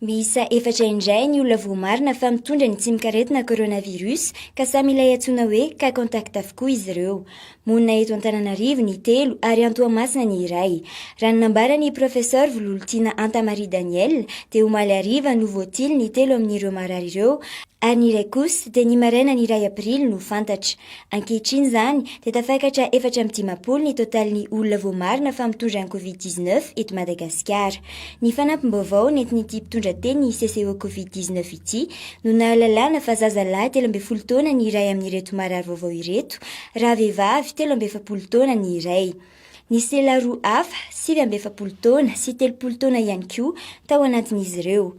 Miisa efatra indray ny olona voamarina fa mitondra ny tsimok'aretina coronavirus ka samy ilay antsoina hoe cas contact avokoa izy ireo. Monina eto Antananarivo ny telo ary any Toamasina ny iray. Raha ny nambaran'ny Professeur Vololontiana Anta Marie Daniel dia omaly hariva no voatily ny telo amin'ireo marary ireo ary ny iray kosa dia ny marainan' iray aprily no fantatra. Ankehitriny izany dia tafakatra efatra amby dimampolo ny totalin'ny olona voamarina fa mitondra ny Covid dix neuf eto Madagasikara. Ny fanampim-baovao nentin'ity mpitondra teny CCO Covid dix neuf ity no nahalalana fa zaza lahy telo ambin'ny folo taona ny iray amin'ireto marary vaovao ireto raha vehivavy telo amby efapolo taona ny iray. Nisy lehilahy roa hafa sivy amby efapolo taona sy telopolo taona ihany koa tao anatin'izy ireo.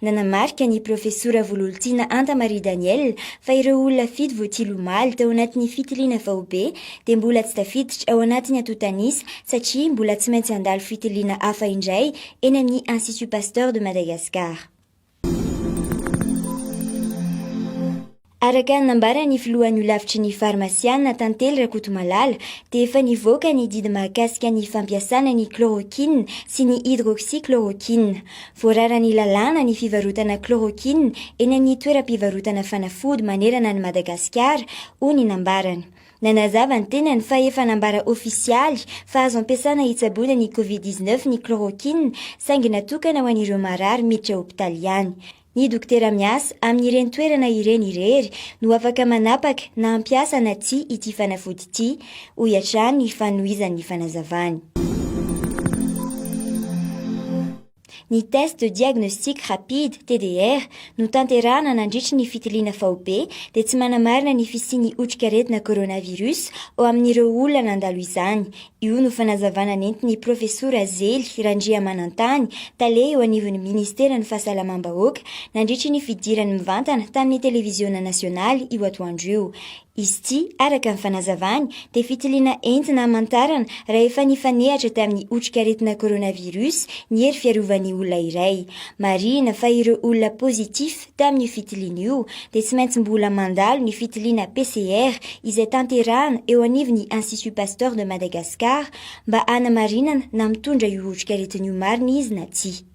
Nanamarika ny Profesora Vololtiana Anta Marie Danielle fa ireo olona fito voatily omaly tao anatin'ny fitiliana faobe dia mbola tsy tafiditra ao anatin'ny antontanisa satria mbola tsy maintsy handalo fitiliana hafa indray eny amin'ny Institut Pasteur de Madagascar. Araka ny nambaran'ny filohan'ny holafitry ny farmasiana, Tantely Rakotomalala, dia efa nivoaka ny didy mahakasika ny fampiasana ny chloroquine sy ny hydroxychloroquine. Voararan'ny lalàna ny fivarotana chloroquine eny amin'ny toeram-pivarotana fanafody manerana an'i Madagasikara, hoy ny nambarany. Nanazava ny tenany fa efa nambara ofisialy fa azo ampiasana hitsaboana ny Covid dix-neuf ny chloroquine saingy natokana ho an'ireo marary miditra hopitaly ihany. Ny dokotera miasa amin'ireny toerana ireny irery no afaka manapaka na hampiasa na tsia ity fanafody ity, hoy hatrany ny fanohizan'ny fanazavany. Ny Test de Diagnostic Rapide, TDR, notanterahana nandritry ny fitiliana faobe dia tsy manamarina ny fisian'ny otrikaretina coronavirus ao amin'ireo olona nandalo izany, Io no fanazavana nentin'ny Profesora Zely Randriamanantany, tale eo anivon'ny Ministeran'ny Fahasalamam-bahoaka, nandritry ny fidirany mivantana tamin'ny Televiziona Nasionaly io atoandro io. Izy ity, araka ny fanazavany, dia fitiliana entina hamantarana raha efa nifanehatra tamin'ny otrikaretina coronavirus ny hery fiarovan'ny olona iray. Marihina fa ireo olona positif tamin'io fitiliana io dia tsy maintsy mbola mandalo ny fitiliana PCR izay tanterahana eo anivon'ny Institut Pasteur de Madagascar mba hanamarinana na mitondra io otrikaretina io marina izy na tsia.